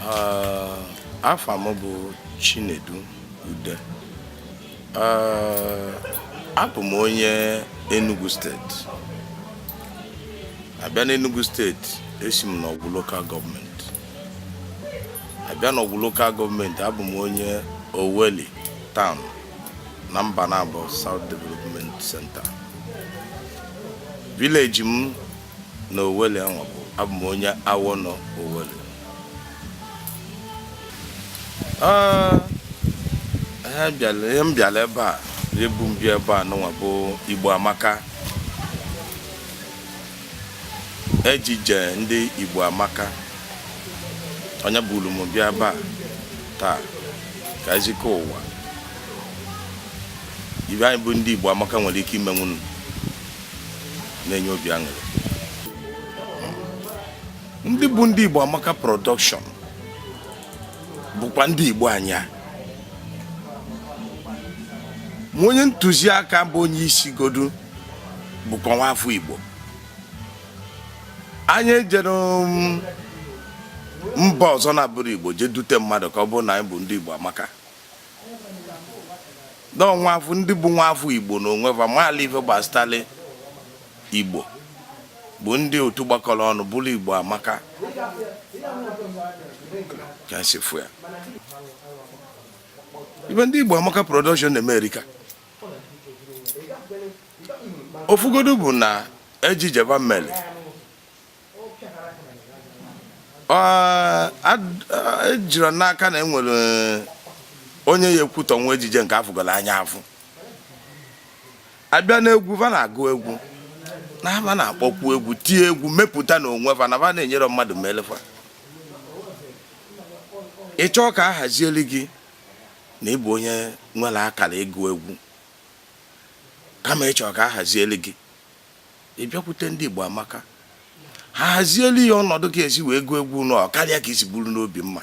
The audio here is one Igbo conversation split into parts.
Ah, afa m bụ Chinedu Ude Ah, abụ m onye Enugu steeti a bịa n'Enugu steeti esi m n'Ọgwụ lokal gọọmenti a bịa n'Ọgwụ lokal gọọmenti abụ m onye Oweli town na Mbanabo South Development Center vileji m na Oweli anwa bụ abụ m onye awọ nọ Oweli ihe m bịara ebe a ihe bu m bịa ebe a nụnwa bụ Igbo Amaka ejije ndị Igbo Amaka onye buru m bịa ebe a taa ka e zikọ ụwa ife anyị bụ ndị Igbo Amaka nwere ike imenwu na-enye obi aṅụrị ndị bụ ndị Igbo Amaka Production bụkwa ndị Igbo anyị ma onye ntụziaka bụ onye isi godu bụkwa nwafọ Igbo anyị ejerọ um, mba ọzọ na-abụrọ Igbo jee dute mmadụ ka ọ bụrụ na anyị bụ ndị Igbo Amaka n'ọnwafụ ndị bụ nwafọ igbo na onwe fa maali ife gbasitali igbo bụ ndị otu gbakọrọ ọnụ bụrụ igbo amaka ka si fụ ya ife ndị igbo amaka production na-eme erika ofu godu bụ na ejije fa meli ejiri m n'aka na enwerọ e, onye ya-ekwutọnwu ejije nke a fụgoro anya afụ a bịa n'egwu fa na-agụ egwu na fa na-akpọkwu egwu tie egwu mepụta na onwe fa na fa na-enyere mmadụ melefa ị chọọ ka a hazieli gị na ị bụ onye nwere akara ịgụ egwu kama ị chọ ka a hazieli gị ị bịakwute ndị Igbo amaka ha hazielu gị ọnọdụ ka ị ya-esi wee gụọ egwu ọ karịa ka i si buru n'obi mma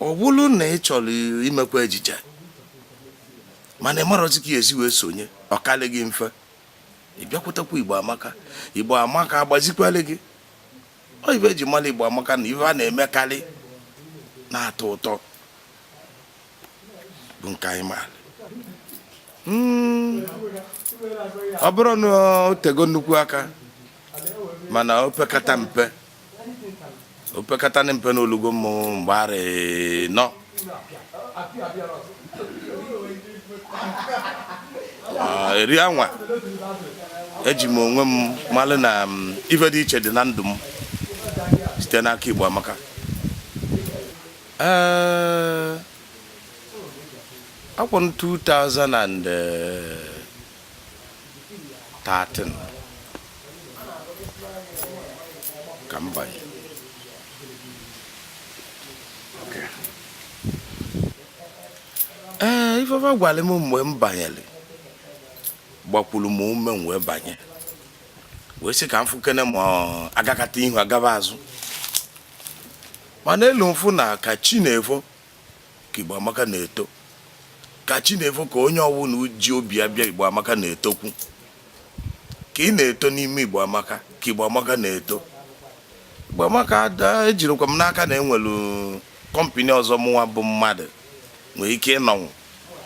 ọ bụrụ na ị chọrọ imekwa ejije mana ị marọzi ka ị ya-esi wee sonye ọ karị gị mfe ị bịakwutekwa igbo amaka igbo amaka agbazikwere gị ọ ife e ji mara igbo amaka na ife a na-emekarị na-atọ ụtọ bụ nke anyị ma hmm. ọ bụrọ na o tego nnukwu aka mana opekata mpe opekata na mpe na o lugo mmụ mgbe arọ ịnọ ah, eri anwa eji m onwe m malụ na mm, ife dị iche dị na ndụ m site n'aka Igbo Amaka Eh, afọ 2013 ka m banye ee eh, ife fa gwara m mgbe m banyere gbakwuru m ume m wee banye wee sị ka m fụkene ma a gakata ihu a gaba azụ mana eluo m fụ na ka chi na-efo ka Igbo Amaka na-eto ka chi na-efo ka onye ọbụla ji obi ya bịa Igbo Amaka na-etokwu ka ị na-eto n'ime Igbo Amaka ka Igbo Amaka na-eto Igbo Amaka ejirọkwa m n'aka na e nwelụ kọmpini ọzọ mụnwa bụ mmadụ nwere ike ịnọnwu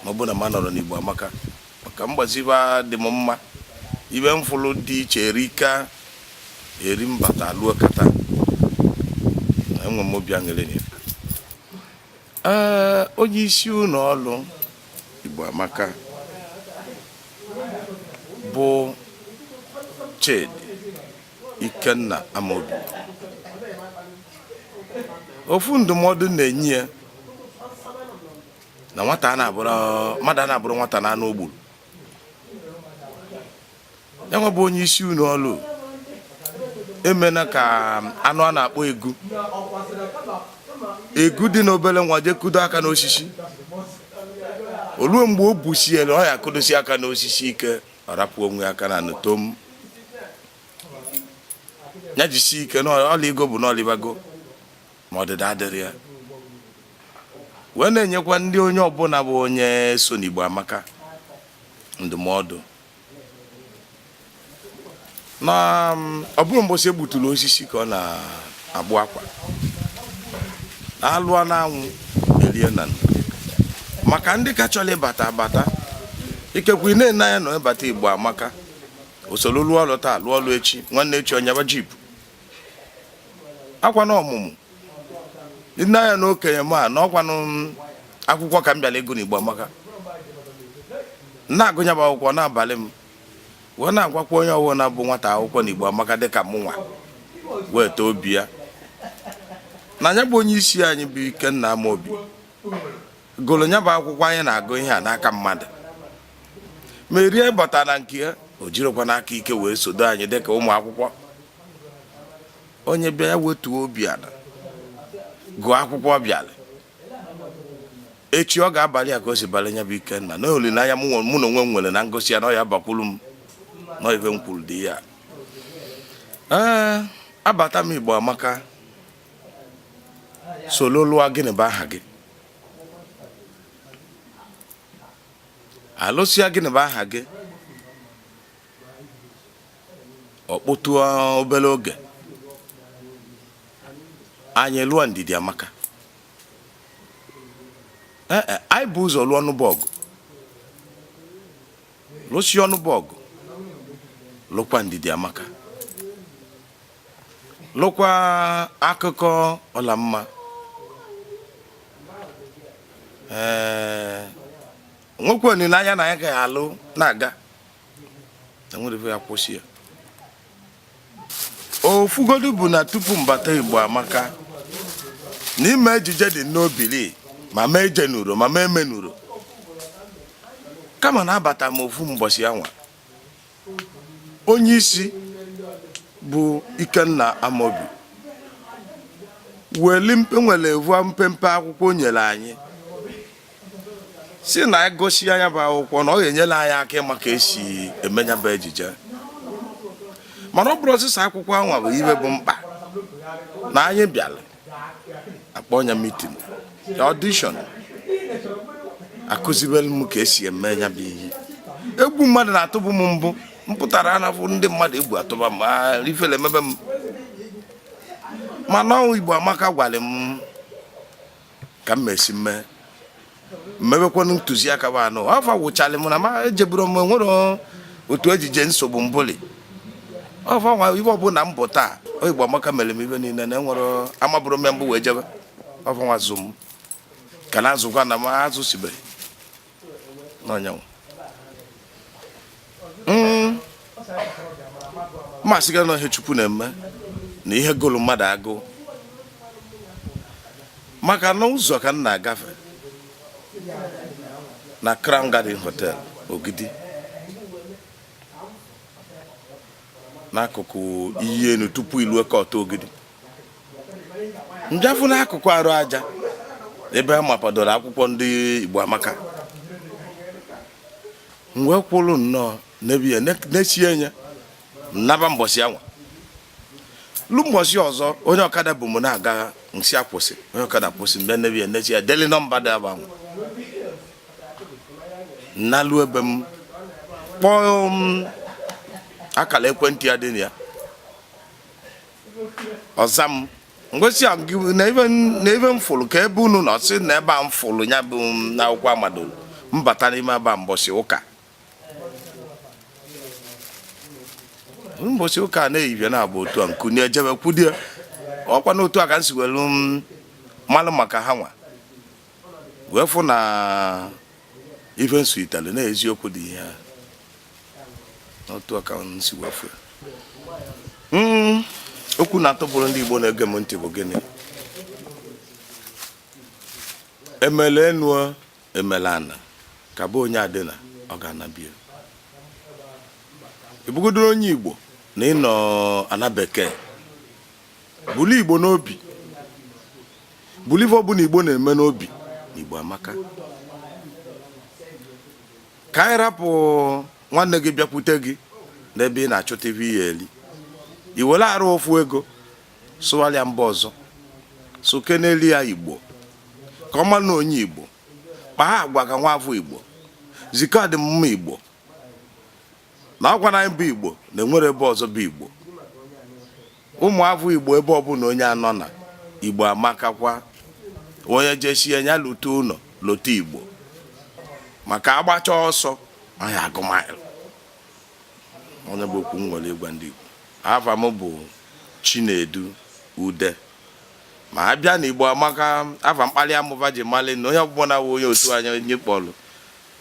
ma ọ bụ na m anọrọ n'Igbo Amaka maka m gbaa ezi ebe a dị m mma ife m fụrụ dị iche erika eri m bata luo kịta enwe m obi aṅụrị na ya. Ee, onye isi ụlọ ọrụ Igbo Amaka bụ Chidi Ikenna Amobi ofu ndụmọdụ m na-enye ya na nwata ana-abụrọ mmadụ ana-abụrọ nwata n'anụ o gburu ya nwa bụ onye isi ụnọ ọlụ emena ka anụ a na-akpọ egu egu dị n'obere nwa jee kudo aka n'osisi o luo mgbe o busiere ọ ya-akudosi aka n'osisi ike ọ rapụ onwe aka n'ana tom ya jisi ike na ọ lịago bụ na ọ lịbago ma ọdịda adịrọ ya wee na-enyekwa ndị onye ọbụla bụ onye so n'Igbo Amaka ndụmọdụ na um, ọ bụrọ mbọsị e gbuturu osisi ka ọ na-agbụ akwa alụọ n'anwụ elie na maka ndị ka chọrọ ịbata abata ikekwe ị na-ene anya na ịbata Igbo Amaka o soro lụọ ọlụ taa lụọ ọlụ echi nwanne echi ọ nyaba jeep ọkwanụ ọmụmụ nne anya na okenye m a na ọkwanụ akwụkwọ ka m bịara ịgụ n'Igbo Amaka na-agụ nya bụ akwụkwọ na-abalị m wee na-agwakwa onye ọwụna bụ nwata akwụkwọ n'Igbo Amaka dịka mụnwa wetuo obi ana nya bụ onye isi anyị bụ Ikenna Amobi gụrụ nya bụ akwụkwọ anyị na-agụ ihe a n'aka mmadụ merie bata na nke ya o jirikwanụ aka ike wee sodo anyị dịka ụmụ akwụkwọ onye bịa wetuo obi ala gụọ akwụkwọ bịara echi ọ ga-abalị ya ka o si balị nya bụ ikenna na olileanya mụ na onwe m nwere na m gụsịa na ọ ya-abakwuru m na ife m kwuru dị ya ee abata m igbo amaka solo lụọ gịnị bụ aha gị alụsịa gịnị bụ aha gị ọ kpụtụ obere oge anyị lụọ ndidi amaka ee eh, eh, anyị bu ụzọ lụọ ọnụ bụ ọgụ lụsịa ọnụ bụ ọgụ lụkwa ndidi amaka lụkwa akụkọ ọlamma ee nwekwa olileanya na anyị ga-alụ na-aga enwerọ ya kwụsị ya ofugodu bụ na tupu m bata igbo amaka na ime ejije dị n'obili ma m ejenurọ ma m emenurọ kama na abata m ofu mbọsị anwa onye isi bụ Ikenna Amobi weli mpe nwere ofu mpempe akwụkwọ o nyere anyị sị na a gụsịa nya bụ akwụkwọ na ọ ga-enyere anyị aka ịma ka esi eme nya bụ ejije mana ọ bụrọ sọsọ akwụkwọ anwa bụ ive bụ mkpa na anyị bịara akpọ nya meeting audition akụzibere m ka esi eme nya bụ ihe egwu mmadụ na-atụbụ m mbụ m pụtara na-afụ ndị mmadụ egwu atụba m ifele emebe m mana ọ wụ igbo amaka gwara m ka m ma-esi mee m mebekwanụ ntụziaka bụ anụ afọ wụchalị m na ma ejeburu m nwere otu ejije m sobu mbụli ọfọ nwa ive ọbụla m bụ taa ọ igbo amaka mere m ive niile na enwere amabụrọ m mbụ wee jebe ọfọ nwa zụ m ka na azụkwa na m azụ sibere n'ọnyanwụ m ma sị gị na ihe chukwu na-eme na ihe gụrụ mmadụ agụ maka na ụzọ ka m na-agafe na Crown Garden Hotel Ogidi n'akụkụ iyi enu tupu ilue kọta Ogidi m bịa fụ n'akụkụ arụ aja ebe a mapadoro akwụkwọ ndị Igbo Amaka m wee kwụrụ nnọọ n'ebe ya nesie anya naba mbọsị anwa lue mbọsị ọzọ onye ọkada bu m na-aga m sị ya kwụsị onye ọkada kwụsị m bịa n'ebe ya n'echi ya deli nọmba dị aba anwa m nalue be m kpọọ akara ekwentị a dị na ya ọ zaa m m wee sị ya na ife m- na ife m fụrụ kee ebe unu nọ sị na ebe a m fụrụ ya bụ m na akwụkwọ amado m bata n'ime aba mbọsị ụka mbọsị ụka a na-eyibia na abụ otu a m kunie jebe kwudie ọkwa na otu a ka m si welu malụ maka ha nwa wee fụ na ife nsu itali na eziokwu dị ihe a n'otu a ka m si wee fụ hmm, okwu m na-atụpụrụ ndị Igbo na-ege m ntị bụ gịnị emele enu emele ana ka bụ onye adịna ọ ga-anabie ị bụgodu onye Igbo na ị nọ ana bekee bulu igbo n'obi bulu ife ọbụna igbo na-eme n'obi igbo amaka ka anyị rapụ nwanne gị bịakwute gị n'ebe ị na-achọta ife ị ya-eli i were arụ ofu ego sụgharịa mba ọzọ sụkenelụ ya igbo ka ọ mara na onye igbo kpaa agwa ka nwa afọ igbo zi ka ọ dị mma igbo na ọkwa na anyị bụ igbo na enwerọ ebe ọzọ bụ igbo ụmụafọ igbo ebe ọbụna onye nọ na igbo amakakwa onye jesie ya lute ụnọ lote igbo maka agbacha ọsọ anyị agụọ maịlụ ọ ya bụ okwu m nwere ịgwa ndị igbo afa m bụ chinedu ude ma a bịa na igbo amaka afa mkpali m fa ji mali na onye ọbụla na onye otu anya onye kpọlụ